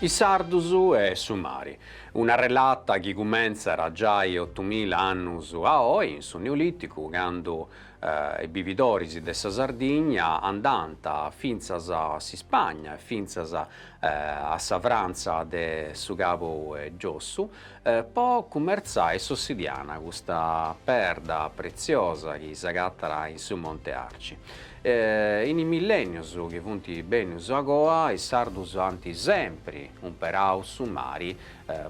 Is sardus e su mari. Una relata chi cumentzat giai otumila annus a oi, in su Neolìticu, candu is bividoris de sa Sardigna andànt fintzas a s'Ispagna e fintzas a sa Frantza de su cabu 'e giossu, po cummertzai s'ossidiana, custa perda pretziosa chi s'agattat in su Monte Arci. In is millènnios chi funt bennius agoa, is sardus ant sèmpiri umperau su mari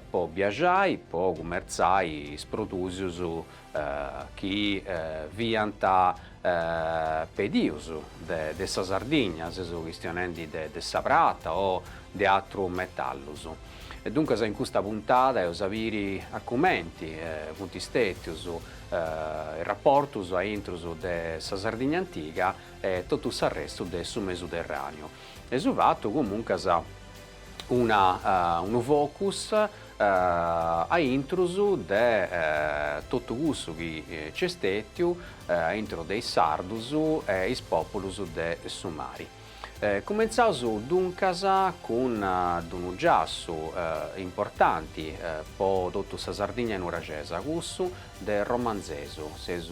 po biaxai, po cummertzai is produtus chi fiant pedius de sa Sardigna, seus chistionendi de sa prata o de atrus metallus. E duncas in custa puntada eus a biri a cumenti funt stetius is raportus a intrus de sa Sardigna antiga e totu s'arrestu de su Mesuterraniu e eus fatu comuncas una unu focus a intrus de totu cussu chi nci est stètiu a intro de is sardus e is pòpulus de su mari. Cumentzaus duncas cun d'unu giassu importanti po totu sa Sardigna nurexesa, cussu de Romanzesu, seus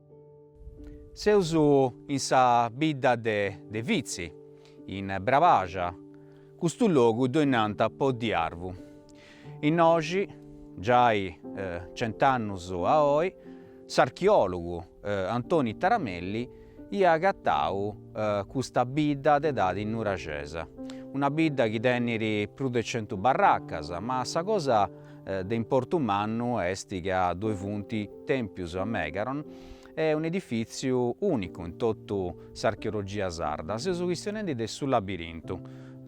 Seus in sa bidda de Vitzi, in Brabaja, custu logu ddoi nant Poddi Arvu. Innoxi, giai cent'annus a oi, s'archeòlogu Antoni Taramelli iat agatau custa bidda de edadi nuraxesa, una bidda chi tenit prus de centu barracas, ma sa cosa De importu mannu est ca ddoi funt tèmpius a Megaron e un'edifìtziu ùnicu in totu s'archeologia sarda. Seus chistionendi de su labirintu.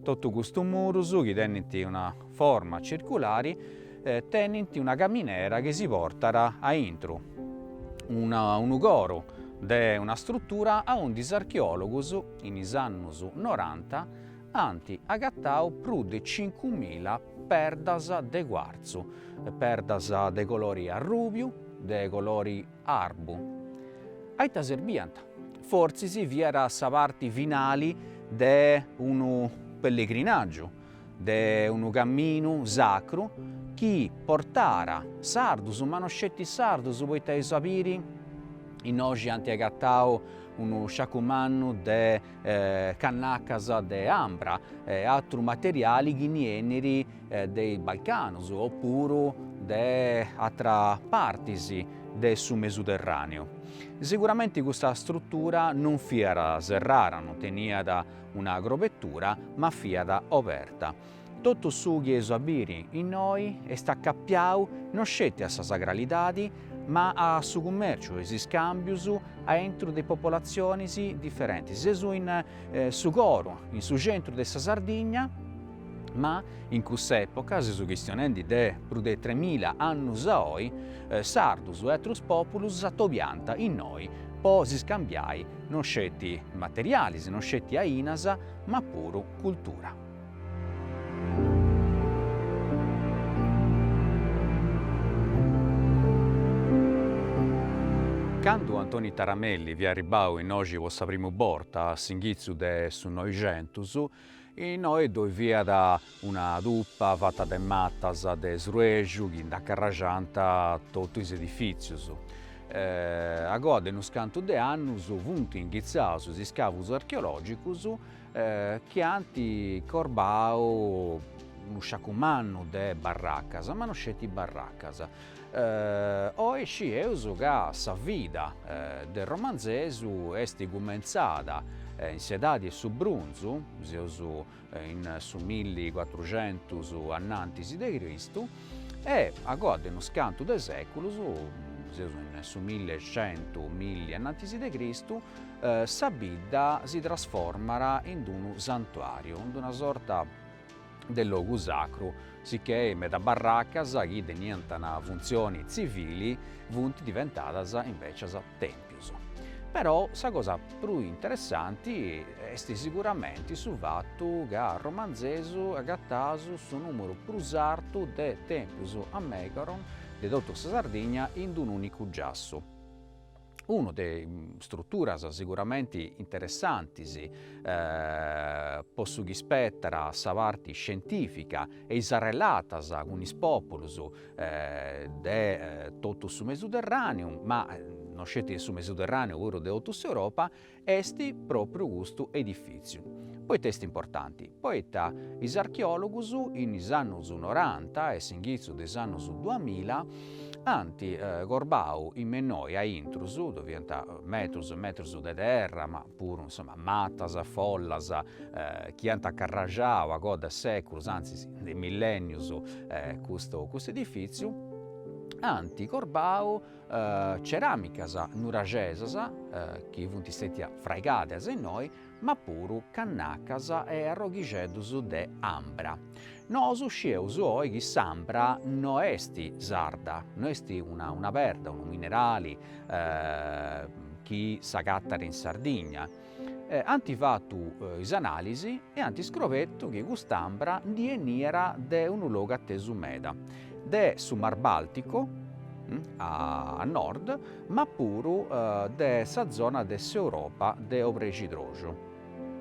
Totu custus murus, chi tenint una forma circulari, tenint una caminera chi si portat a intru, unu coru de una strutura aundi is archeòlogus, in is annus noranta, ant agatau prus de cincumila perdas de cuartzu, perdas de colori arrùbiu, de colori arbu. A ita serbiant? Fortzis fiat sa parti finali de unu pellegrinàgiu, de unu caminu sacru chi portàt sardus, ma no sceti sardus, poita eus a biri, innoxi ant agatau unu sciacu mannu de cannacas de ambra e atru materiali chi nd'eniat de is Balcanos o puru de atras partis de su Mesuderraneu. Siguramenti custa strutura non fiat serrara, non teniat una grobetura, ma fiat oberta. Totu su chi eus a biri innoi est acapiau no sceti a sa sagralidadi ma a su cummèrciu e is iscàmbius aintru de popolatzionis diferentis. Seus in su coru, in su centru de sa Sardigna, ma in cussa època, seus chistionendi de prus de tremila annus a oi, sardus e atrus pòpulus atobiant innoi po s'iscambiai no sceti materialis, no sceti ainas, ma puru cultura. Candu Antoni Taramelli fiat arribbau innoxi po sa primu borta a s'inghitzu de su Noixentus, innoe ddoi fiat una tupa fata de matas de sruexu chi nd'acarraxant totu is edifìtzius. Agoa de unus cantu de annus funt inghitzaus is iscavus archeològicus chi ant corbau unu sciacu mannu de barracas, ma no sceti barracas. Oi scieus ca sa vida de Romanzesu est cumentzada in s'edadi 'e su brunzu, seus in su milli cuatruxentus annantis de Cristu, E agoa de unus cantu de seculos, seus in su milli centu, milli annantis de Cristu, sa bidda si trasformat in d'unu santuariu, in d'una sorta de logu sacru, sicchè meda barracas chi teniant una funtzioni tzivili funt diventadas invècias tèmpius. Però sa cosa prus interessanti est siguramenti su fatu ca a Romanzesu agataus su nùmeru prus artu de tèmpius a Megaron de totu sa Sardigna in unu ùnicu giassu. Una de is struturas siguramenti interessantis po su chi ispetat sa parti scientìfica e is arrelatas cun is pòpulus de totu su Mesuderràneu, ma no sceti su Mesuderràneu puru de totu s'Europa, est pròpriu custu edifìtziu. Poita est importanti? Poita is archeòlogus in is annus noranta e s'inghitzu de is annus duamilla ant corbau innoi aintru, ddoe fiant metrus e metrus de terra ma puru insoma matas, follas, chi ant acarrajau agoa de seculus, antzis de millenius custu edifiziu, ant corbau ceramicas nuraxesas chi funt stetias fraigadas innoi, ma puru cannacas e arroghixeddus de ambra. Nosu scieus oi chi s'ambra no est sarda, no est una una perda, unu minerali chi s'agattat in Sardigna. Ant fatu is analisi e ant iscobertu chi cust'ambra ndi 'eniat de unu logu atesu meda, de su Mar Baltico a nord, ma puru de sa zona de s'Europa de Obrexidroxu.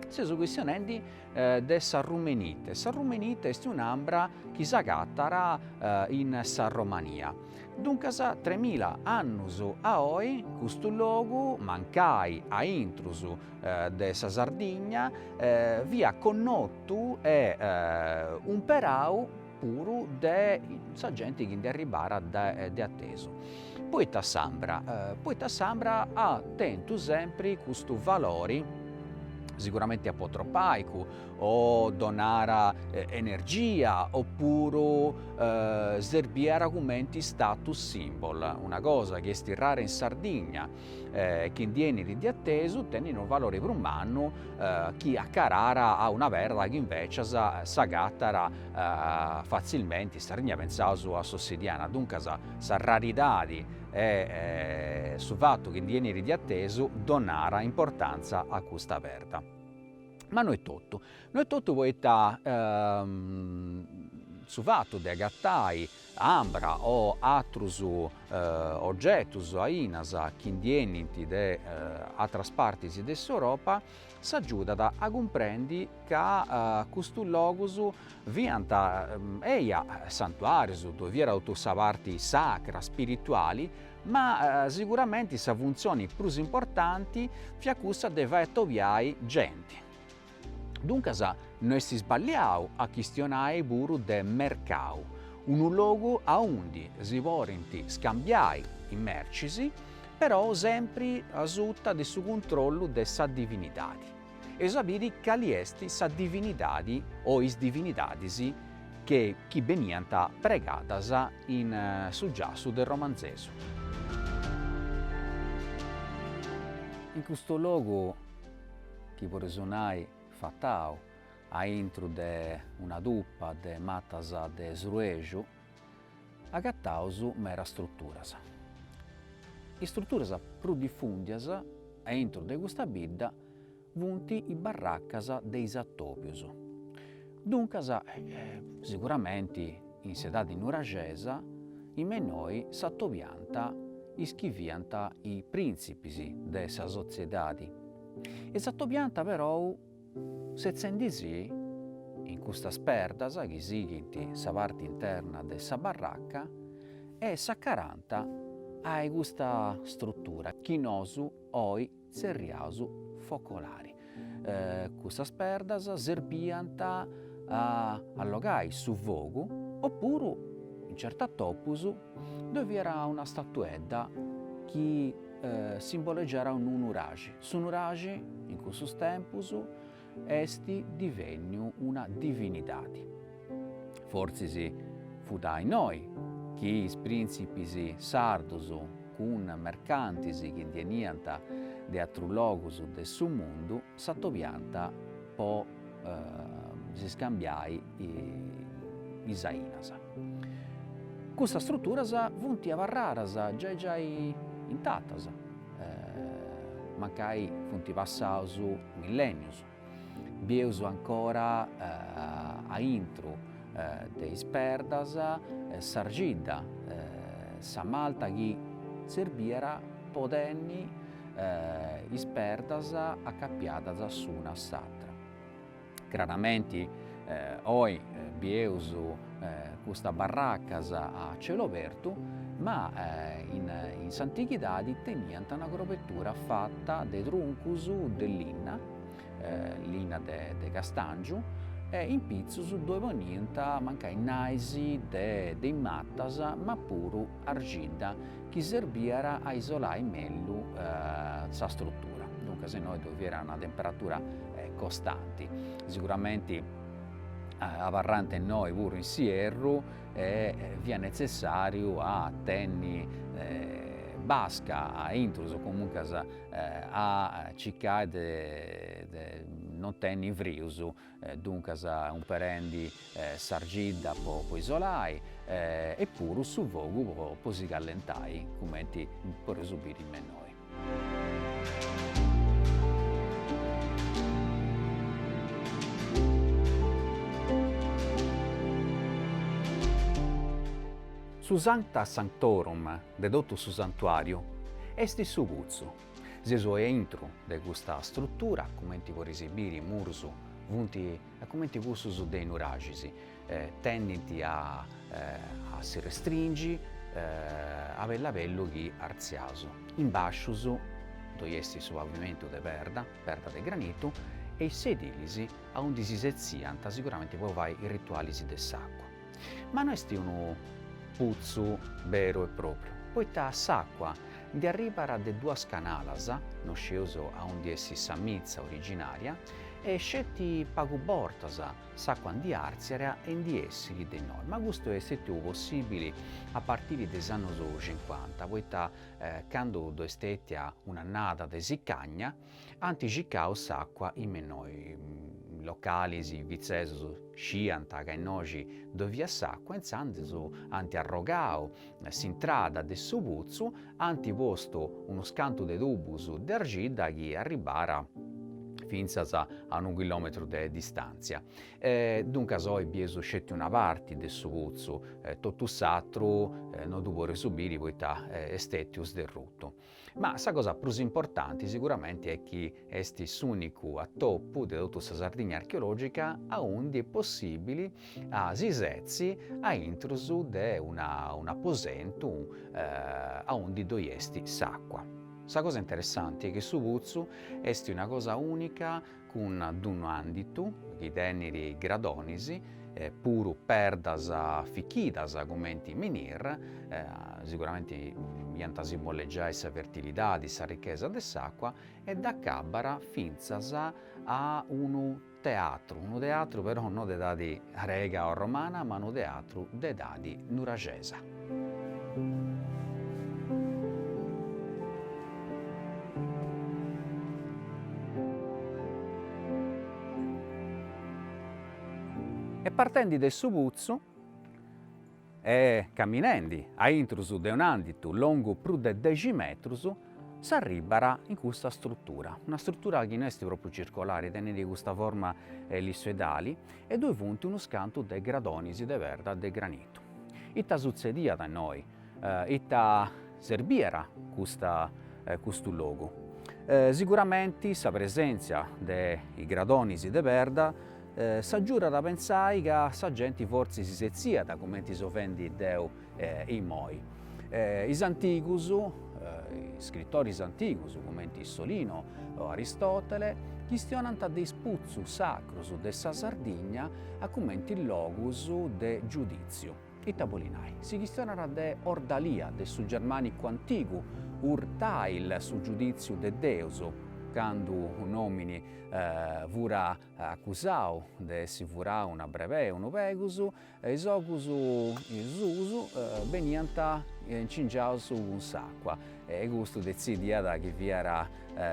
Seus chistionendi de sa rumenite. Sa rumenite est un'ambra chi s'agatat in sa Romania. Duncas tremila annus a oi custu logu, mancai a intrus de sa Sardigna, fiat connotu e umperau puru de sa genti chi nd'arribarat de atesu, poita s'ambra, poita s'ambra at tentu sempri custu valori, siguramente apotropaicu o donara energia opuru serbiat cumenti status symbol, una cosa chi est rara in Sardigna, e chi ndi 'enit de atesu tenit unu valore prus mannu chi acarara a una perda chi invècias s'agatat fatzilmente, in Sardigna pentzaus a s'ossidiana, duncas sa raridade e su fatu chi ndi 'enit de atesu donara importantza a custa perda. Ma no est totu, no est totu poita su fatu de agatai ambra o atrus ogetus ainas chi ndi 'enint de atras partis de s'Europa, si agiudat a cumprendi ca custus logus fiant, eia, santuàrius, ddoi fiat totu sa parti sacra, spirituali, ma siguramenti sa funtzioni prus importanti fiat cussa de fai atobiai genti. Duncas no est isballiau a chistionai puru de mercau, unu logu aundi si porint scambiai is mercis, però sempri asuta de su cuntrollu de sa divinidadi. Eus a biri cali est sa divinidadi o is divinidadis che chi beniant pregadas in su giassu de Romanzesu. In custu logu chi podeus nai fatau a intru de una tupa de matas de sruexu, agataus meras struturas. Is struturas prus difundias a intru de custa bidda funt is barracas de is atobius. Duncas, siguramenti in s'edadi nuraxesa in me innoi s'atobiant is chi fiant i printzipis de sa sotziedadi e s'atobiant perou setzendisi in custas perdas chi sighint sa parti interna de sa barraca e s'acarant a-i custa strutura chi nosu oi tzerriaus focolari. Cussas perdas serbiant a allogai su fogu opuru in certus atòbius ddoi fiat una statuedda chi simbolegiàt unu nuraxi. Su nuraxi in cussus tempus est divènniu una divinidadi. Fortzis fut a innoi chi is prìntzipis sardus cun mercantis chi ndi 'eniant de atrus logus de su mundu s'atobiant po s'iscambiai is ainas. Custas struturas funt abarradas giai giai intatas. Mancai funt passaus millènnius, bieus ancora a intru de is perdas s'argidda, sa malta chi serbiat po tenni is perdas acapiadas s'una a s'atra. Craramenti oi bieus custas barracas a celu abertu, ma in s'antighidadi teniant una crobetura fata de truncus de linna, linna de castàngiu, e in pitzus ddoi poniant mancai nais de is matas, ma puru argidda chi serbiat a isolai mellu sa strutura, duncas innoi ddoe fiat una temperatura costanti, siguramenti abarrànt a innoi puru in s'ierru e fiat netzessàriu a tenni basca a intrus o comuncas a circai de non tenni frius Duncas umperendi s'argidda po isolai e puru su fogu po si callentai, cumenti podeus biri me innoi. Su Sancta Sanctorum de totu su santuariu est su putzu. Seus a intru de custa strutura, cumenti poris biri is murus funt cumenti cussus de i nuraxis, tendint a a si restringi a bellu a bellu chi artziaus. In bàscius ddoi est su pavimentu de perda, perda de granitu, e is sedilis aundi si setziant siguramenti po fai is ritualis de s'àcua. Ma no est unu putzu beru e pròpriu, poita s'àcua ndi arribat de duas canalas, no sceus a undi essit sa mitza originària, e sceti pagu bortas s'àcua ndi àrtziat e ndi essit de innoi, ma custu est stètiu possìbili a partiri de is annus cincuanta, poita candu ddoi est stètia un'annada de sicàngia, Ant circau s'àcua innoi is localis, fitzesus sciant ca innoxi ddoi fiat s'àcua, intzandus ant arrogau s'intrada de su putzu, ant postu unus cantu de tubus de argidda chi arribat fintzas a unu chilòmetru de distàntzia. E duncas oi bieus sceti una parti de su putzu, totu s'atru no ddu podeus biri poita est stètiu sderrutu. Ma sa cosa prus importanti siguramenti est chi est s'ùnicu a tipu de totu sa Sardigna archeològica aundi est possìbili a si setzi a intrus de un'aposentu aundi ddoi est s'àcua. Sa cosa interessanti chi su putzu est una cosa ùnica cun d'unu ànditu chi tenit gradonis, puru perdas fichidas cumenti menhir, siguramenti iant a simbollegiai sa fertilidadi, sa richesa de s'àcua, e dd'acabat fintzas a unu teatru, unu teatru però no de edadi grega o romana, ma unu teatru de edadi nuraxesa. E partendi de su putzu e caminendi a intrus de un'anditu longu prus de dexi metrus, s'arribat in custa strutura, una strutura chi no est propriu circolari, tenit custa forma ellissoidali e ddoi funt unus cantu de gradonis de perda de granitu. Ita sutzediat innoi? Ita serbiat custa custu logu? Siguramenti sa presèntzia de is gradonis de perda s'agiudat a pensai ca sa genti fortzis si setziat cumenti seu fendi deu imoi. Is antigus, iscritoris antigus, cumenti Solino o Aristotele, chistionant de is putzus sacrus de sa Sardigna a cumenti logus de giudìtziu. Ita bolit nai? Si chistionat de Ordalia, de su germànicu antigu Urteil, su giudìtziu de Deus, candu un'òmini fiat acusau de essi furau una brebei, unu pegus, Is ogus suus beniant incingiaus cun s'àcua e custu detzidiat chi fiat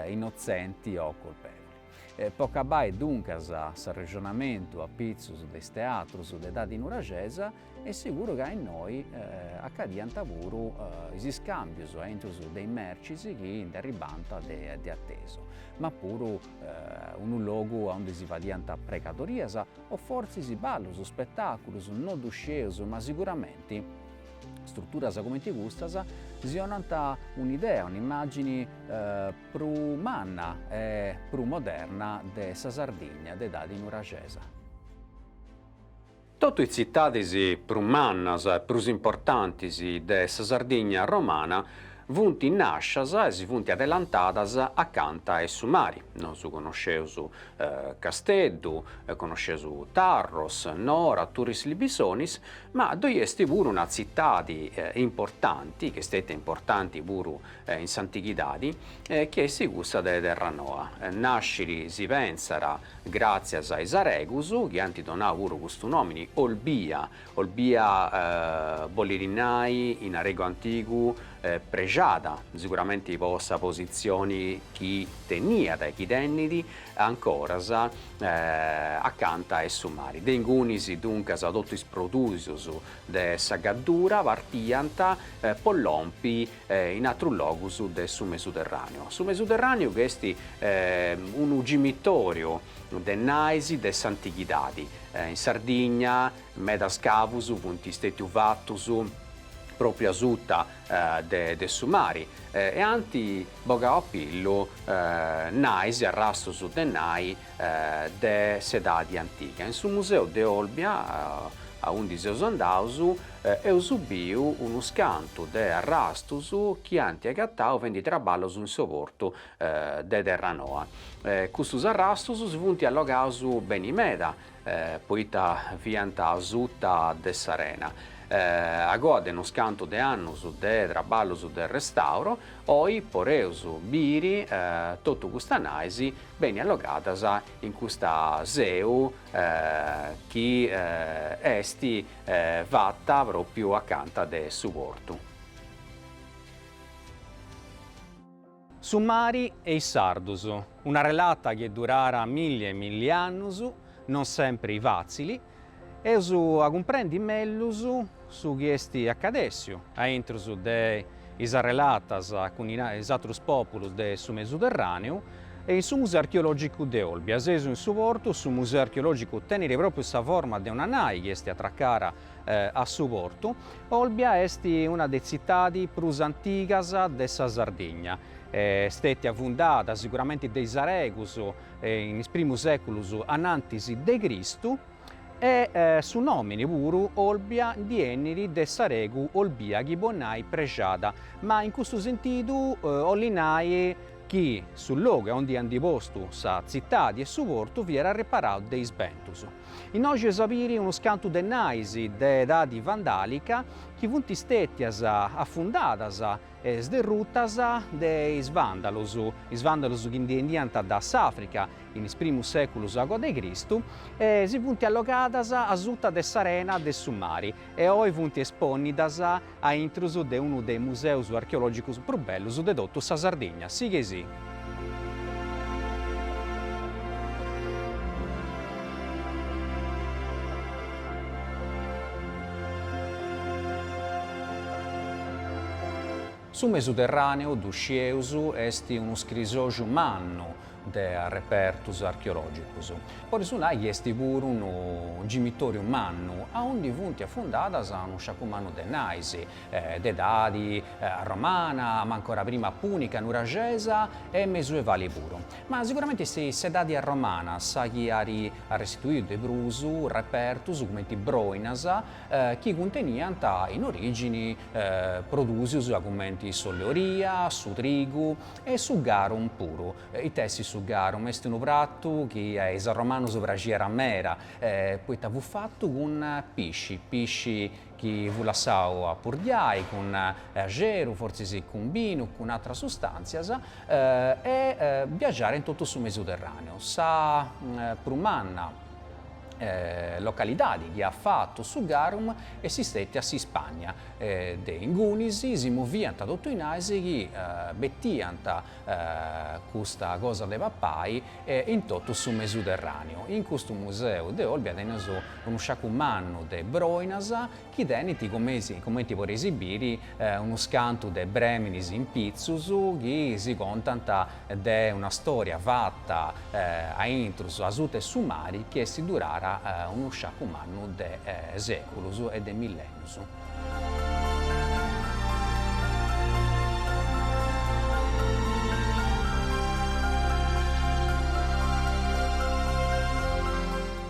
innotzenti o colpevoli. Po acabai duncas s'arrexonamentu a pitzus de is teatrus de edadi nuragesa, est siguru ca innoi acadiant puru is iscàmbius aintru de is mercis chi ndi arribànt de atesu, ma puru unu logu aundi si fadiant pregadorias O fortzis ballus, spetàculus, no ddu scieus, ma siguramenti struturas cumenti custas si 'onant un'idea, un'immàgini prus manna e prus moderna de sa Sardigna de edadi nuragesa. Totu is tzitadis prus mannas e prus importantis de sa Sardigna romana Funt nàscias e si funt adelantadas acanta 'e su mari. Nosu conosceus Casteddu, conosceus Tarros, Nora, Turris Libisonis, ma ddoi est puru una tzitadi importanti, chi est stètia importanti puru in s'antighidadi, chi est cussa de Terranoa. Nascit si pensat gràtzias a is aregus, chi ant donau puru custu nòmini Olbia, Olbia bolit nai, in aregu antigu, prexada, siguramenti po sa positzioni chi teniat e chi tenit ancoras acanta 'e su mari. De ingunis, duncas, totu is produtus de sa Gaddura partiant po lompi in atrus logus de su Mesuterràneu. Su Mesuterràneu chi est unu cimitoriu De nais de s'antighidadi, in Sardigna medas scavus funt stètius fatus pròpriu asuta de su mari e ant bogau a pillu nais e arrastus de nai de s'edadi antiga. In su museu de Olbia, aundi seus andaus, eus biu unus cantu de arrastus chi ant agatau fendi traballus in su portu de Terranoa. Custus arrastus si funt allogaus beni meda, poita fiant asuta de s'arena. Agoa de unus cantu de annus de traballus de restauru, oi poreus biri totu custas nais beni allogadas in custa seu chi est fata pròpriu acanta de su portu. Su mari e is sardus, una relata chi durat milli e milli annus, non sempri fatzili, eus a cumprendi mellus su chi esti accadessiu aintrus de is arrelatas cun is atrus populus de su Mesuterraneu e in su Museu Archeologicu de Olbia. Seus in su portu, su Museu Archeologicu tenit propriu sa forma de una nai chi esti atracara a su portu. Olbia est una de tzitadi prus antigas de sa Sardigna. Stètia fundada siguramenti de is aregus in is primus sèculus anantis de Cristu e su nòmini puru Olbia ndi 'enit de s'aregu olbia chi bolit nai prexada, ma in custu sentidu 'olit nai chi su logu aundi ant postu sa tzitadi e su portu fiat arreparau de is bentus. Innoxi eus a biri unus cantu de nais de edadi vandàlica chi funt stètias afundadas e sderrutas de is vàndalus, is vàndalus chi ndi 'eniant da s'Àfrica in is primus sèculus agoa de Cristu e si funt allogadas asuta de s'arena de su mari e oi funt espònnidas aintrus de unu de is museus archeològicus prus bellus de totu sa Sardigna. Sighei-sì! Su Mesuterràneu, ddu scieus, est unu scrisoxu mannu, de arrepertus archeològicus. Poreus nai chi est puru unu gimitòriu mannu, aundi funt afundadas unu sciacu mannu de nais, de edadi romana, ma ancora prima pùnica, nuraxesa e mesuevali puru. Ma siguramenti est s'edadi romana sa chi at arrestituiu de prus repertus cumenti broinas chi cunteniant in orìgini produsius cumenti s'ollu 'e olia, su trigu, E su garum puru, ita est su garum? Est unu pratu chi a is arromanus praxiat meda, poita fut fatu cun pisci, pisci chi fut lassau a purdiai cun axeru, fortzis cun binu, cun atras sustàntzias, e biaxàt in totu su Mesuterràneu. Sa prus manna localidadi chi at fatu su garum est stètia s'Ispagna, e de ingunis si moviant totu is nais chi betiant custa cosa de papai in totu su Mesuterràneu. In custu museu de Olbia teneus unu sciacu mannu de broinas chi tenint comenti podeis biri unus cantu de brèminis in pitzus chi si contant de una stòria fata a intrus asuta 'e su mari chi est durara unu sciacu mannu de sèculus e de millènnius.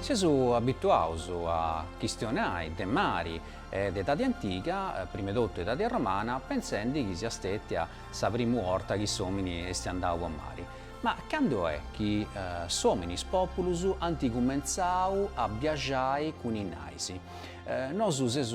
Seus abituaus a chistionai de mari e de edadi antiga, prima 'e totu edadi romana, pentzendi chi siat stètia sa primu 'orta chi s'òmini est andau a mari. Ma candu est chi s'òmini is pòpulus ant cumentzau a biaxai cun is nais? Nosu seus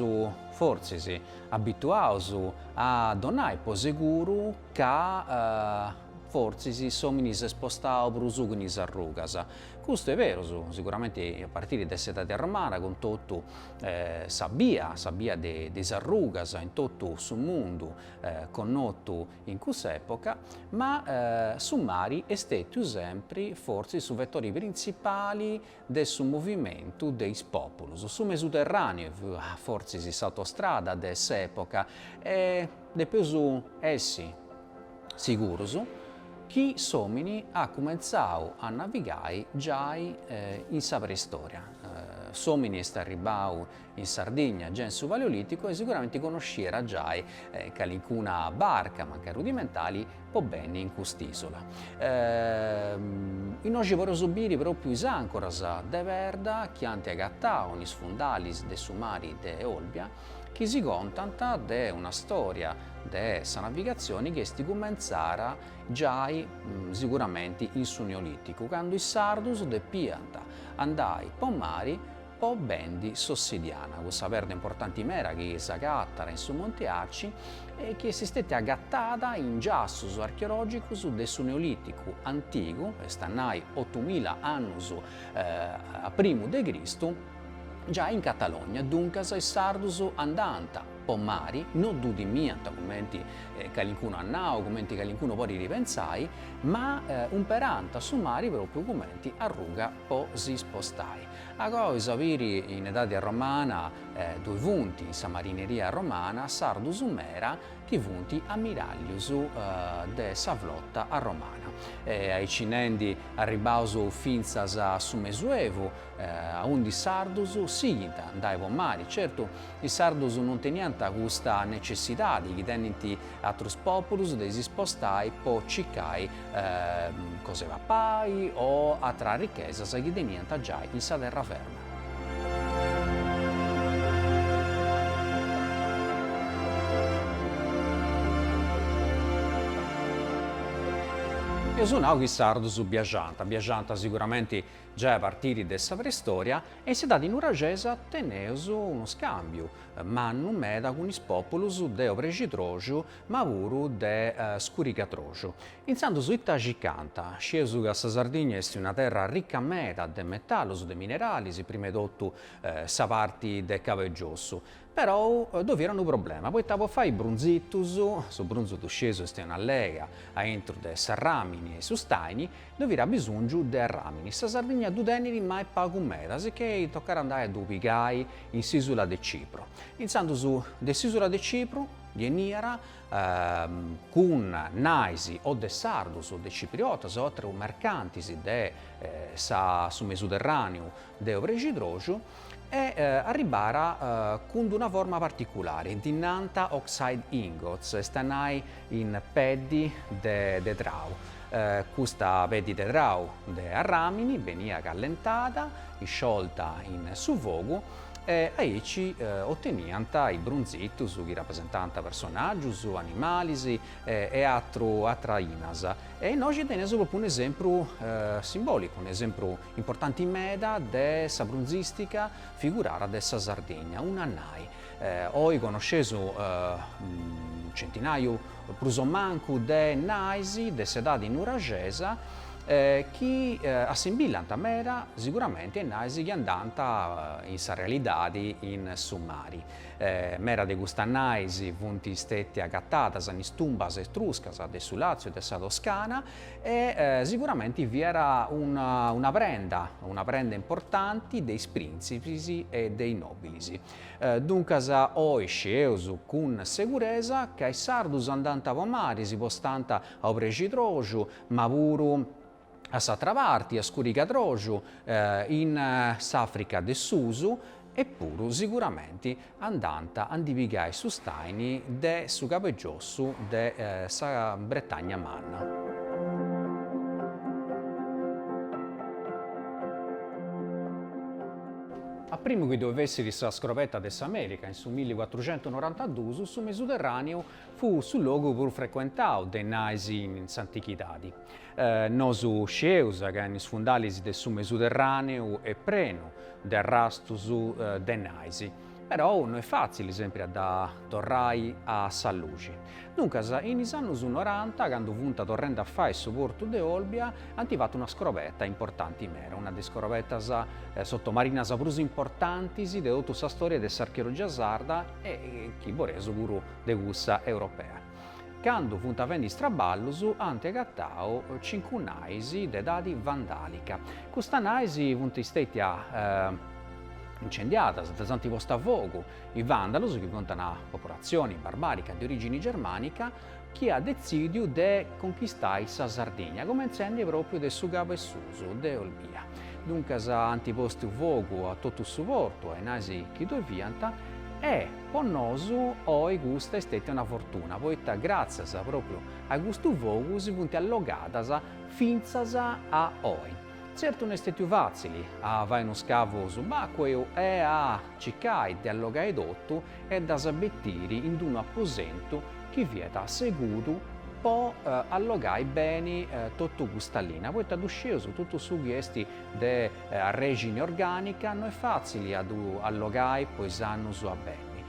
fortzis abituaus a donai po seguru ca fortzis s'omini s'est spostau prus cun is arrugas. Custu est berus, siguramenti a partiri de s'edadi romana, cun totu sa bia, sa bia de is arrugas in totu su mundu connotu in cussa epoca, ma su mari est stetiu sempri fortzis su vettori printzipali de su movimentu de is pòpulus, su Mesuterràneu, fortzis s'autostrada de s'època, e depeus essi sigurus chi s'òmini at cumentzau a navigai giai in sa preistòria. S'òmini est arribbau In Sardigna, già in su Paleolìticu, e siguramenti connosciat giai calincuna barca, mancai rudimentali, po benni in cust'ìsula. Innoxi podeus biri pròpiu is àncoras de perda chi ant agatau in is fundalis de su mari de Olbia, chi si contant de una stòria de sa navigatzioni chi est cumentzada giai siguramenti in su Neolìticu, candu is sardus depiant andai po mari Po bendi s'ossidiana, cussa perda importanti meda chi s'agatat in su Monte Arci e chi est stètia agatada in giassus archeològicus de su Neolìticu antigu, est a nai otumila annus a primu de Cristu, giai in Catalogna, duncas is sardus andànt po mari, no ddu timiant cumenti calincunu at nau, cumenti calincunu podit pentzai, ma umperànt su mari pròpriu cumenti arruga. po si spostai. Agoa si biri in edadi arromana ddoi funt in sa marineria arromana sardus mera chi funt ammirallius de sa flotta arromana. Aicinendi arribbaus fintzas a su mesuevu aundi is sardus sighint a andai po mari, certu is sardus non teniant custa necessidadi chi tenint atrus populus de si spostai po circai cosa 'e papai o atras richesas chi teniant giai in sa terra ferma. Eus nau chi is Sardus biaxant, biaxant siguramenti giai a partiri de sa preistòria, e in s'Idadi Nuragesa teneus unu scàmbiu mannu meda cun is pòpulus de obrexidroxu ma puru de scurigatroxu. Intzandus ita circant? Scieus ca sa Sardigna est una terra rica meda de metalus, de mineralis, prima 'e totu sa parti de Cabe Giossu. Perou ddoi fiat unu problema, poita po fai brunzitus, su brunzu ddu scieus est una lega aintru de s'arramini e su staini, ddoi fiat abisongiu de arramini. Sa Sardigna ddu tenit ma est pagu meda, sicchei tocat andai a ddu pigai in s'isula de Cipru. Intzandus de s'isula de Cipru. Beniat cun nais o de sardus o de cipriotas o aterus mercantis de sa su Mesuderràneu de Obrexidroxu e arribàt cun d-una forma particulari, ddi nant oxhide ingots, est a nai in peddi de trau. Custa peddi de trau de arràmini beniat callentada, isciolta in su fogu, e aici oteniant is brunzitus chi rapresentant personàgius, animalis e atras ainas. E innoxi teneus propriu un'esempru simbòlicu, un'esempru importanti meda de sa brunzìstica figurada de sa Sardigna, una nai. Oi connosceus unu centinàiu prus o mancu de nais de s'edadi nuraxesa, chi assimbillant meda, siguramenti a is nais chi andant in sa realidadi in su mari. Meda de custas nais funt steti agatadas in is tumbas etruscas de su Làtziu e de sa Toscana e siguramenti fiat una prenda, una prenda importanti de is prìntzipis e de is nòbilis. Duncas oi scieus cun seguresa ca is sardus andant po mari, si spostant a obrexidroxu, ma puru a s'atra parti, a Scurigadroxu, in s'Africa de susu, e puru siguramenti andant a ndi pigai su staini de su cabegiossu de sa Bretagna Manna. A primu chi ddoi fessit sa scrobetta de s'America in su milli cuatruxentu norantaduus, su Mesuterraniu Fut su logu prus frecuentau de nais in s'antichidadi. Nosu scieus ca in is fundalis de su Mesuterràneu est prenu de arrastus de nais, perou no est fàtzili sempri a dda torrai a sa luxi. Duncas, in is annus noranta, candu funt torrendi a fai su portu de Olbia, ant fatu una scrobeta importanti meda, una de is scrobetas sotomarinas prus importantis de totu sa storia de s'archeologia sarda, e chi boleis puru de cussa europea. Candu funt fendi is traballus ant agatau cincu nais de edadi vandàlica. Custas nais funt stètias incendiadas, ddas ant postas a fogu, is vàndalus chi funt una popolatzioni barbàrica de orìgini germànica, chi at detzìdiu de conchistai sa Sardigna, comentzendi pròpiu de su cabesusu de Olbia. Duncas ant postu fogu a totu su portu, a is nais chi ddoi fiant, e po nosu oi custa est stètia una fortuna, poita gràtzias pròpiu a custu fogu si funt allogadas fintzas a oi. Tzertu no est stètiu fàtzili a fai unu scavu subacqueu e a circai de allogai totu, e ddas betiri in d-unu aposentu chi fiat seguru po allogai beni totu custa linna, poita ddu scieus, totu su chi est de arrexini orgànica no est fàtzili a ddu allogai po is annus a benni.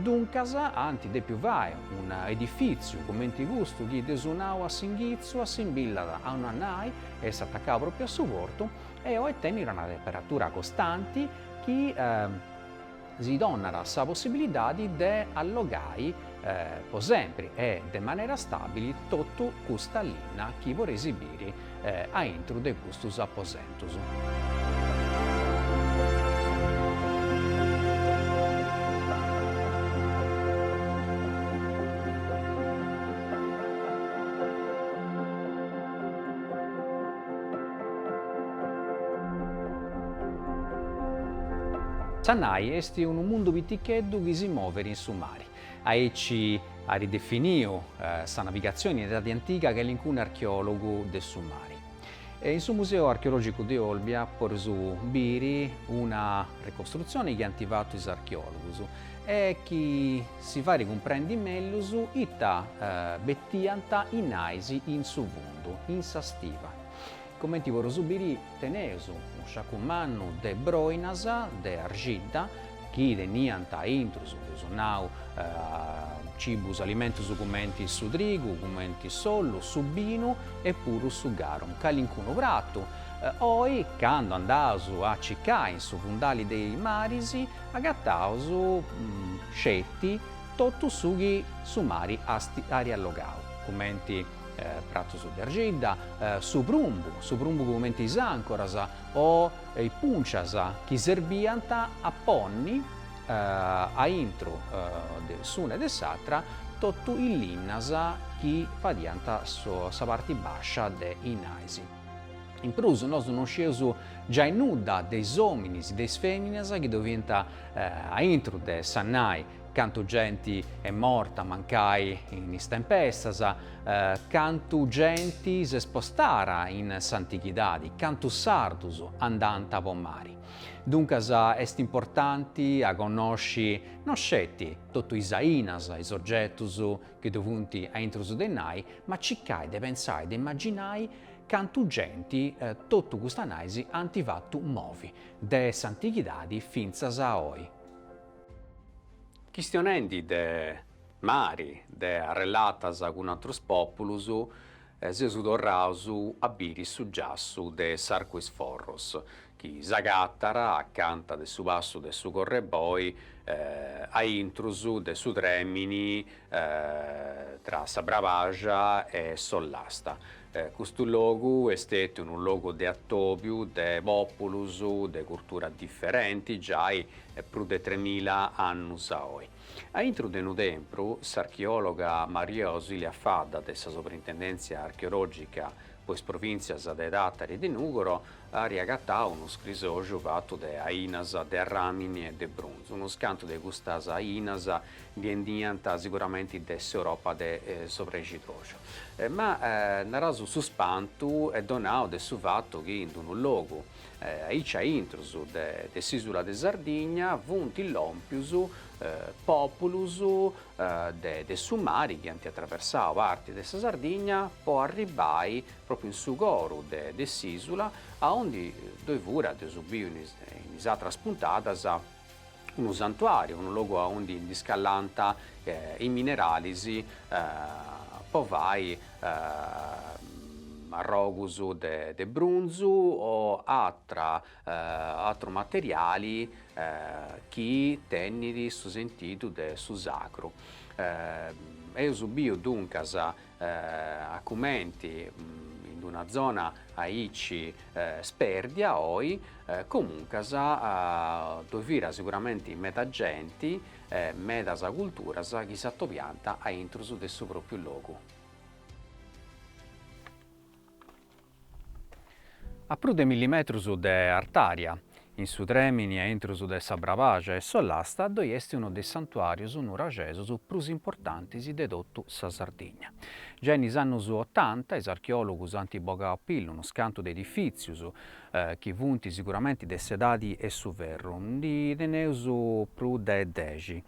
Duncas ant dèpiu fai unu edifìtziu comenti custu chi dd'eus nau a s'inghitzu, assimbillat a una nai, est atacau pròpriu a su portu e oi tenit una temperatura costanti chi, si donat sa possibilidadi de allogai po sempri e de manera stàbili totu custa linna chi podeis biri a intru de custus aposentus. Sa nai est unu mundu piticheddu chi si moveri in su mari. Aici ari definiu sa navigatzioni in edadi antiga calincunu archeòlogu de su mari. In su Museu Archeològicu de Olbia podeus biri una ricostrutzioni chi ant fatu is archeòlogus e chi si fait cumprendi mellus ita betiant is nais in su fundu, in sa stiva. Cumenti podeus biri teneus unu sciacu mannu de broinas de arxidda chi teniant intrus, eus nau, cibus, alimentus cumenti su trigu, cumenti s'ollu, su binu e puru su garum, calincunu pratu. Oi, candu andaus a cicai in su fundali de is maris, agataus sceti totu su chi su mari ari allogau, cumenti, Pratus de argidda, su prumbu, su prumbu cumenti is ancoras o is puncias chi serbiant a ponni aintru de s'una e de s'atra totu is linnas chi fadiant sa parti bàscia de is nais. In prus nosu non scieus giai nudda de is òminis, de is fèminas chi ddoe fiant aintru de sa nai, Cantu genti est morta mancai in is tempestas, cantu genti s'est spostara in s'antighidadi, cantu sardus andant po mari. Duncas est importanti a connosci no sceti totu is ainas, is ogetus chi ddoi funt a intrus de is nais, ma circai de pensai, de imaginai cantu genti totu custas nais ant fatu movi, de s'antighidadi fintzas a oi. Chistionendi de mari, de arrellatas cun atrus pòpulos, seus torraus a biri su giassu de s'Arcu is Forros, chi s'agatat acanta de su passu de su Correboi, a intrus de su trèmini tra sa Brabaxa e s'Ollasta, Custu logu est stetiu unu logu de atòbiu de pòpulus de curtura diferenti giai prus de tremila annus a oi. A intru de unu tempru, s'archeòloga Maria Ausilia Fadda de sa Soprintendèntzia Archeològica po is provìntzias de Tàtari e de Nùgoro Ari agatau unu scrisoxu fatu de ainas de ramini e de brunzu. Unus cantu de custas ainas beniant siguramenti de s'Europa de s'Obrescidroxu. Ma naraus su spantu est donau de su fatu chi in unu logu aici a intrus de s'isula de Sardigna funt lompius populus de su mari chi ant atraversau parti de sa Sardigna po arribbai pròpriu in su coru de de s'ìsula, aundi ddoi fiat, dd'eus biu in is in is atras puntadas, unu santuàriu, unu logu aundi ndi scallant is mineralis po fai arrogus de de brunzu o atra atru materiali chi tenit su sentidu de su sacru. Eus biu duncas a cumenti in una zona aici spèrdia oi, comuncas ddoi fiat siguramenti meda genti e medas culturas chi s'atobiant a intrus de su pròpiu logu. A prus de milli metrus de artària, in su trèmini a intrus de sa Brabaxa e s'Ollasta, ddoi est unu de is santuàrius nuraxesus prus importantis de totu sa Sardigna. Giai in is annus otanta, is archeòlogus ant bogau a pillu unus cantu de edifìtzius, chi funt siguramenti de s'edadi 'e su ferru, ndi teneus prus de dexi,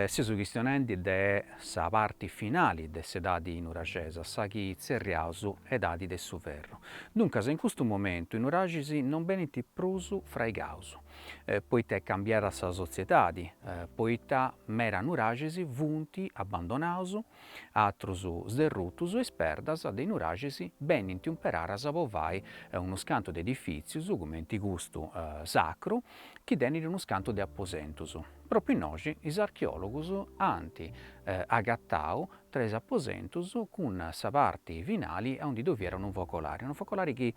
seus chistionendi de sa parti finali de s'edadi nuraxesa, sa chi tzerriaus edadi de su ferru. Duncas in custu momentu i nuraxis non benint prus fraigaus, poita est cambiada sa sotziedadi, poita mera nuraxis funt abbandonaus, atrus sderrutus, is perdas de i nuraxis benint umperaras po fai unus cantu de edifitzius, cumenti custu sacru, chi tenit unus cantu de aposentus. Propriu innoxi is archeòlogus ant agatau tres aposentus cun sa parti finali aundi ddoe fiat unu focolari, unu focolari chi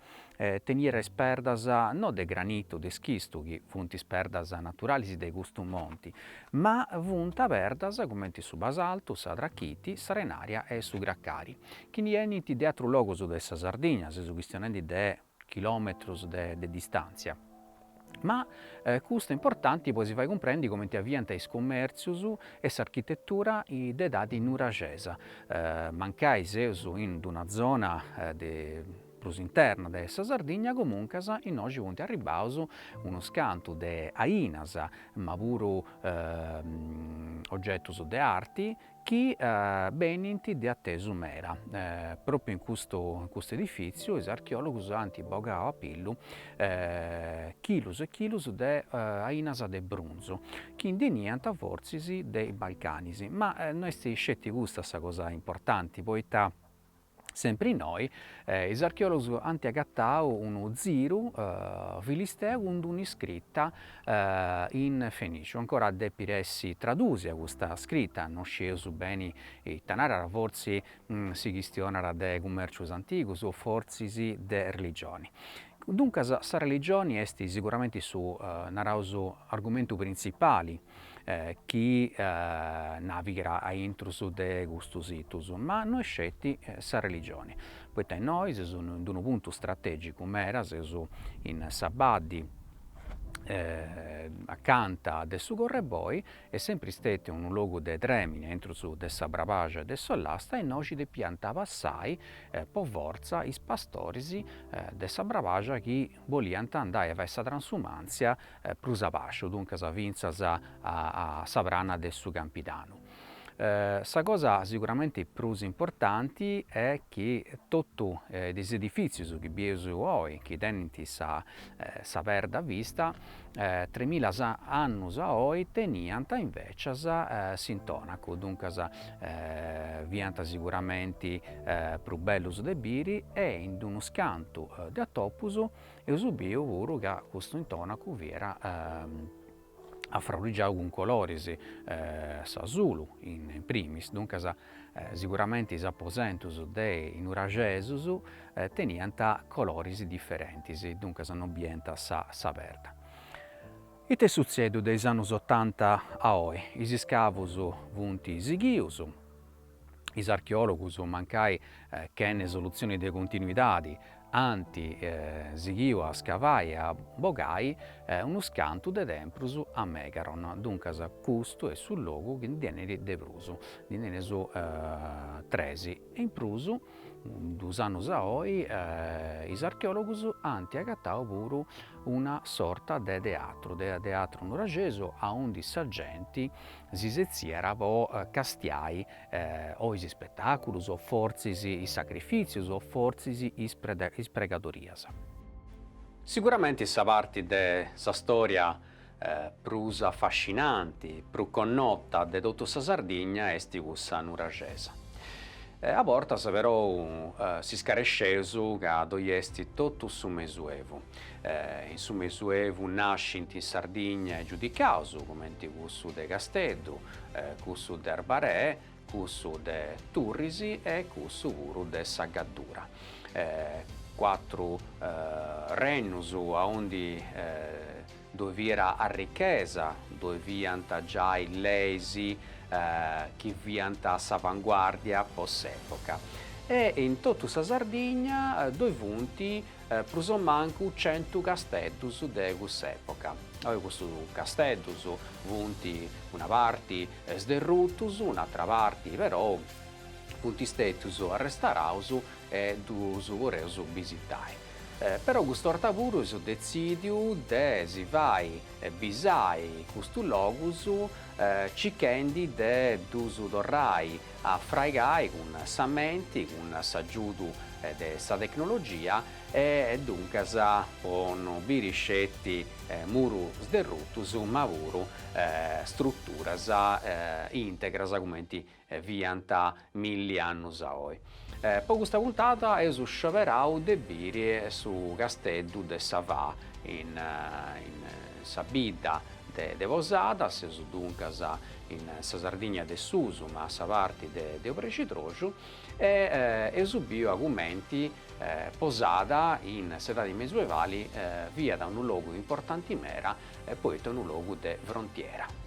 teniat is perdas no de granitu, de schistu, chi funt is perdas naturalis de custu monti, ma funt perdas cumenti su basaltu, sa trachiti, s'arenària e su cracari, chi ndi 'enint de atrus logus de sa Sardigna, seus chistionendi de chilòmetrus de distàntzia, ma custu est importanti po si fai cumprendi comenti aviant is cumèrtzius e s'architetura de edadi nuraxesa, mancai seus in d'una zona de prus interna de sa Sardigna, comuncas innoxi funt arribbaus unus cantu de ainas, ma puru ogetus de arti chi benint de atesu mera. Pròpiu in custu in custu edifìtziu is archeòlogus ant bogau a pillu chilus e chilus de ainas de brunzu, chi ndi 'eniant fortzis de is Balcanis, ma no est sceti custa sa cosa importanti, poita Sempri innoi, is archeòlogus ant agatau unu ziru filisteu cun d'una scrita in fenìciu. Ancora depit essi tradùsia custa scrita, no scieus beni ita narat, fortzis si chistionat de cumèrcius antigus o fortzis de religioni. Duncas sa religioni est siguramenti su, naraus, argumentu printzipali chi navigat a intrus de custus situs, ma no est sceti sa religione, poita innoi seus in unu puntu strategicu meda, seus in sa baddi acanta de su Correboy, est sempri stetiu unu logu de tremini a intrus de sa Brabaxia e de s'Ollasta e innoi nci depiant passai po fortza is pastoris de sa Brabaxia chi boliant andai a fai sa transumàntzia prus abaxu, duncas fintzas a sa prana de su Campidanu. Sa cosa siguramenti prus importanti est chi totu is edifìtzius chi bieus oi, chi tenint sa perda a vista, tremila annus a oi teniant invècias s'intònacu, duncas fiant siguramenti prus bellus de biri e in unus cantu de atopus eus biu puru ca custu intònacu fiat afraurrigiau cun coloris, s'azulu in primis, duncas Siguramenti is aposentus de is nuraxesus teniant coloris diferentis, duncas non biiant sa perda. Ite est sutzedu de is annus otanta a oi? Is iscavus funt sighius, is archeòlogus mancai chene solutzioni de continuidadi Ant sighiu a scavai e a bogai unus cantu de templus a megaron, duncas custu est su logu chi ndi tenit de prus, ndi tenit tres, e in prus, duus annus a oi, is archeologus ant agatau puru una sorta de teatru, de teatru nuraxesu, aundi sa genti si setziat po castiai o is ispetàculus o fortzis is sacrifìtzius o fortzis is pregadorias. Siguramenti sa parti de sa stòria prus afascinanti, prus connota de totu sa Sardigna est cussa nuraxesa. A bortas perou s'iscaresceus ca ddoi est totu su mesuevu. In su mesuevu nascint in Sardigna is giudicaus, cumenti cussu de Casteddu, cussu de Arbaree, cussu de Turrisi e cussu puru de sa Gaddura. Cuatru rennus aundi ddoi fiat arrichesa, ddoi fiant giai leis chi fiant a s'avanguàrdia po s'època e in totu sa Sardigna ddoi funt prus o mancu centu casteddus de cuss'època. Oi custus casteddus funt una parti sderrutus, un'atra parti perou funt stètius arrestauraus e ddus poreus bisitae. Perou cust'orta puru eus detzìdiu de si fai bisae custus logus cichendi de ddus torrai a fraigai cun s'ammentu, cun s'agiudu de sa tecnologia e duncas po no biri sceti murus derrutus ma puru struturas integras comenti fiant milli annus a oi. Po custa puntada eus scioberau de biri su Casteddu de sa Fa in sa bidda de Posada, seus duncas in sa Sardigna de susu, ma a sa parti de obrescidroxu, e eus a biri comenti Posada in s'edadi mesuevali, fiat unu logu importanti mera, poita unu logu de frontiera.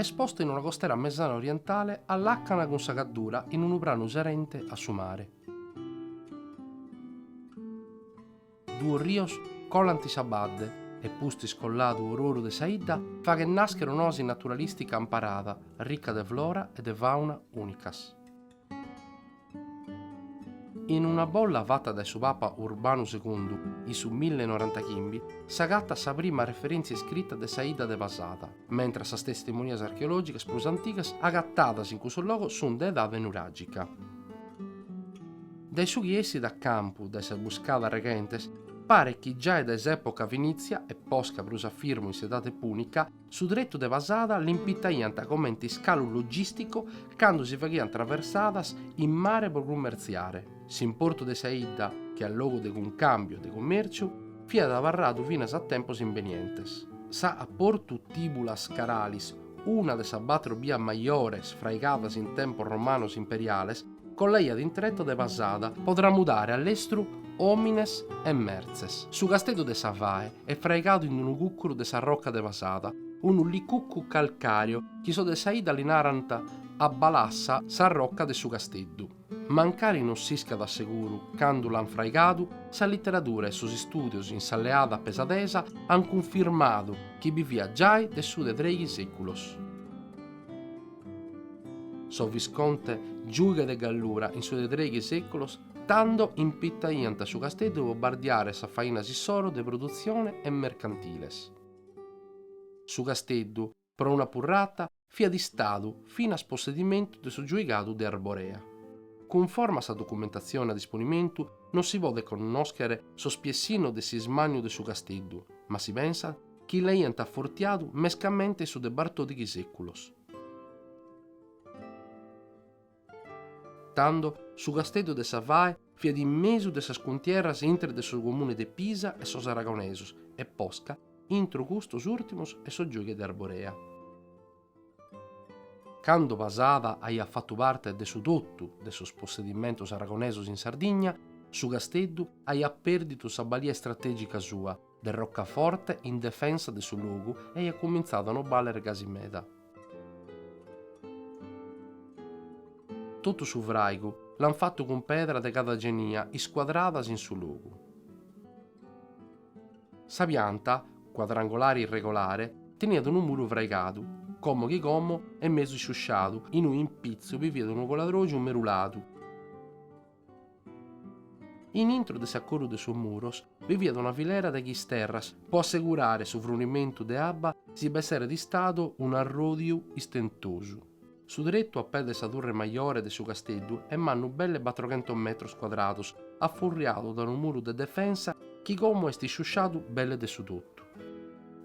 Est posta in una costera mesana orientale a làcana cun sa Gaddura in unu pranu serente a su mare. Duos rios colant sa badde e pustis colladu oru oru de sa 'idda faghet nàschere un'oasi naturalìstica amparada, rica de flora e de fàuna ùnicas. In una bolla fata dae su Papa Urbanu Segundu in su mille e norantachimbi s'agatat sa prima referèntzia iscrita de sa 'idda de Pasada. mentras sas testimonias archeològicas prus antigas agatadas in cussu logu sunt de edade nuràgica. Dae su chi essit a campu dae sas buscadas reghentes, paret chi giai dae s'època fenìtzia e posca prus a firmu in s'edade pùnica, su tretu de Pasada l'impitaiant comente iscalu logìsticu cando si faghiant traversadas in mare pro cummertziare. S'importu de sa 'idda, che a logu de cuncàmbiu e de cummèrciu, fiat abarradu finas a tempos imbenientes, sa a portu Tìbulas Caralis, una de sas batro bias majores fraigadas in tempos romanos imperiales, collaiat in tretu de Pasada po tramudare a lestru òmines e mertzes. Su Casteddu de sa Fae est fraigadu in unu cùcuru de sa roca de Pasada, unu licucu calcàreo chi sos de sa 'idda li narant a balassa sa roca de su Casteddu. Mancari non s'iscat a seguru candu l'ant fraigadu, sa literadura e sos istùdios in sa leada pasadesa ant cunfirmadu chi bi fiat giai de su de trèighi sèculos. Sos Viscontes giughes de Gallura in su de trèighi sèculos tando impitaiant su casteddu pro bardiare sas fainas issoro de produtzione e mercantiles. Su casteddu, pro una purrata fiat istadu finas possedimentu de su giuigadu de Arborea. Cunforma a sa documentatzione a disponimentu non si podet connòschere s'ospiessinu de s'ismanniu de su casteddu, ma si pensat chi l'aiant afortiadu mescamente in su de batòrdighi sèculos. Tando, su Casteddu de sa Fae fiat in mesu de sas cuntierras intre de su comune de Pisa e sos aragonesos e posca intro custos ùrtimos e sos giughes de Arborea. Cando Pasada aiat fatu parte de su totu de sos possedimentos aragonesos in Sardigna, su Casteddu aiat pèrdidu sa balia istratègica sua, de rocaforte in defensa de su logu e aiat cumintzadu a no bàlere gasi meda. Totu su fràigu l'ant fatu cun pedra de cada genia iscuadradas in su logu. Sa pianta, cuadrangolare irregolare, teniat unu muru fraigadu, como chi como est mesu isciusciadu, in unu impitzu bi fiat unu coladrògiu meruladu, In intro de s'acorru de sos muros bi fiat una filera de chisterras pro assegurare su frunimentu de abba si b'esseret istadu un'arròdiu istentosu. Su tretu a pè de sa turre majore de su casteddu est mannu belle battroghentos metros cuadrados, afurriadu dae unu muru de defensa chi como est isciusciadu belle de su totu.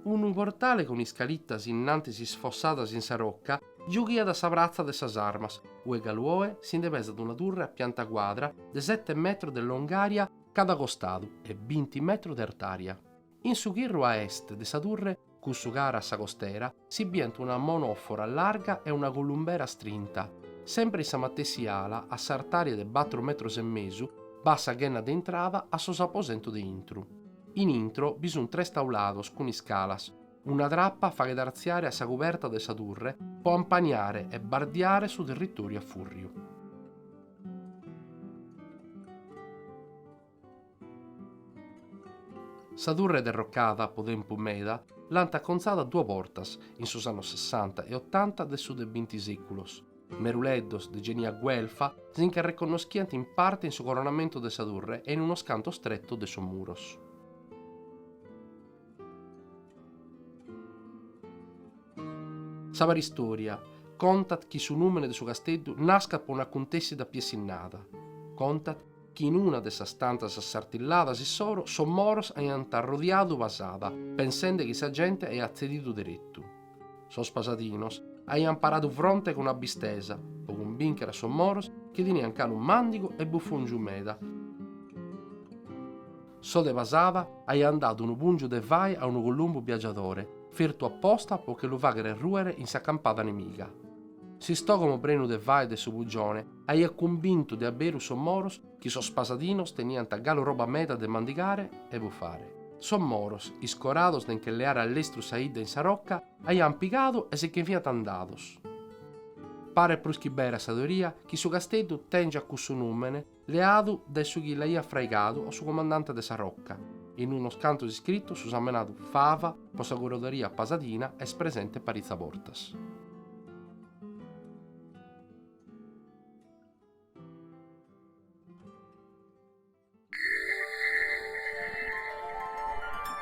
Unu portale cun iscalitas in antis isfossadas in sa rocca Giughiat a sa pratza de sas armas, ue galu oe si nde pesat una turre a pianta cuadra de sete metros de longària cada costadu e binti metros de artària. In su chirru a est de sa turre, cussu cara a sa costera, si bient una monòfora larga e una columbera astrinta. Semper in sa matessi ala, a s'artària de batru metros e mesu, b'at sa ghenna de intrada a sos aposentos de intro. In intro bi sunt tres taulados cun iscalas. Una trapa faghet artziare a sa cuberta de sa turre po ampaniare e bardiare su territòriu a fùrriu. Sa turre derrocada po tempus meda l'ant acontzada a duas bortas in sos annos sessanta e otanta de su de binti sèculos. Meruleddos de genia güelfa si nche arreconnoschiant in parte in su coronamentu de sa turre e in unos cantos tretos de sos muros. Sa paristòria contat chi su nùmene de su casteddu nascat po un'acuntèssida piessinnada. Contat chi in una de sas tantas assartilladas issoro sos moros aiant arrodiadu Pasada pensende chi sa gente aiat tzedidu deretu. Sos pasadinos aiant paradu fronte cun un'abistesa po cumbìnchere a sos moros chi teniant galu màndigu e bufòngiu meda. Sos de Pasada aiant dadu unu pùngiu de fai a unu columbu biagiadore, fertu a posta po che lu faghere rùere in sa campada nemiga. S'istògomo prenu de fai de su pugione aiat cumbintu de a beru sos moros chi sos pasadinos teniant galu roba meda de mandigare e bufare. Sos moros, iscorados de nche leare a lestru sa 'idda in sa roca, aiant pigadu e si nche fiant andados. Paret prus chi bera sa teoria chi su casteddu tèngiat cussu nùmene leadu de su chi l'aiat fraigadu o su comandante de sa roca. In unos cantos iscritos su samenadu Fava pro sa curadoria pasadina est presente paritzas bortas.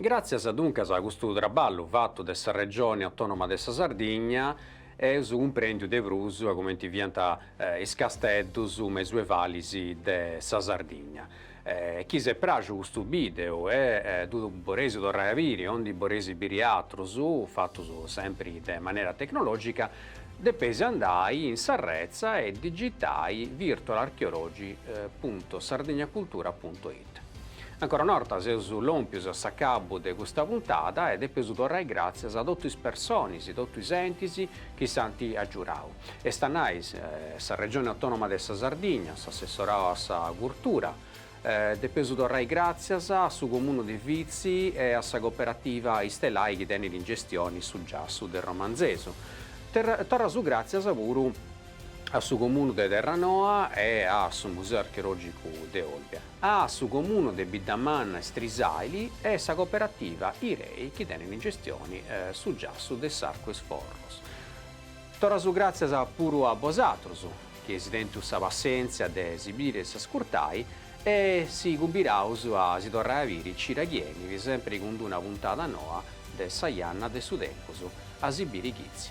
Gràtzias duncas a custu traballu fatu de sa Regione Autònoma de sa Sardigna eus cumprèndiu de prus a cumenti fiant is casteddus mesuevalis de sa Sardigna. Chi s'est pràxiu custu bìdeu e ddu boreis torrai a biri o ndi boreis biri àterus fatus sempri de manera tecnològica, depeis andai in s'arretza e digitai virtualarcheology punto sardegnacultura punto Ancora una 'orta seus lòmpius a s'acabu de custa puntada e depeus torrai gràtzias a totu is personis, totu is entis chi s'ant agiurau, est a nai sa Regioni Autònoma de sa Sardigna, s'assessorau a sa curtura, depeus torrai gràtzias a su Comunu de Vitzi e a sa Cooperativa Istelai chi tenit in gestioni su giassu de Romanzesu. Torraus gràtzias puru. a su Comunu de Terranoa e a su Museu Archeològicu de Olbia, a su Comunu de Biddamanna e Strisàili e sa Cooperativa Irei chi tenit in gestioni su giassu de s'arcu 'e is forros. Torraus gràtzias puru a bosatrus chi eis tentu sa passèntzia de si biri e s'ascurtai e si cumbiraus a si torrai a biri cida chi 'enit sempri cun d-una puntada noa de Sa Janna de su Tempus a si biri chitzi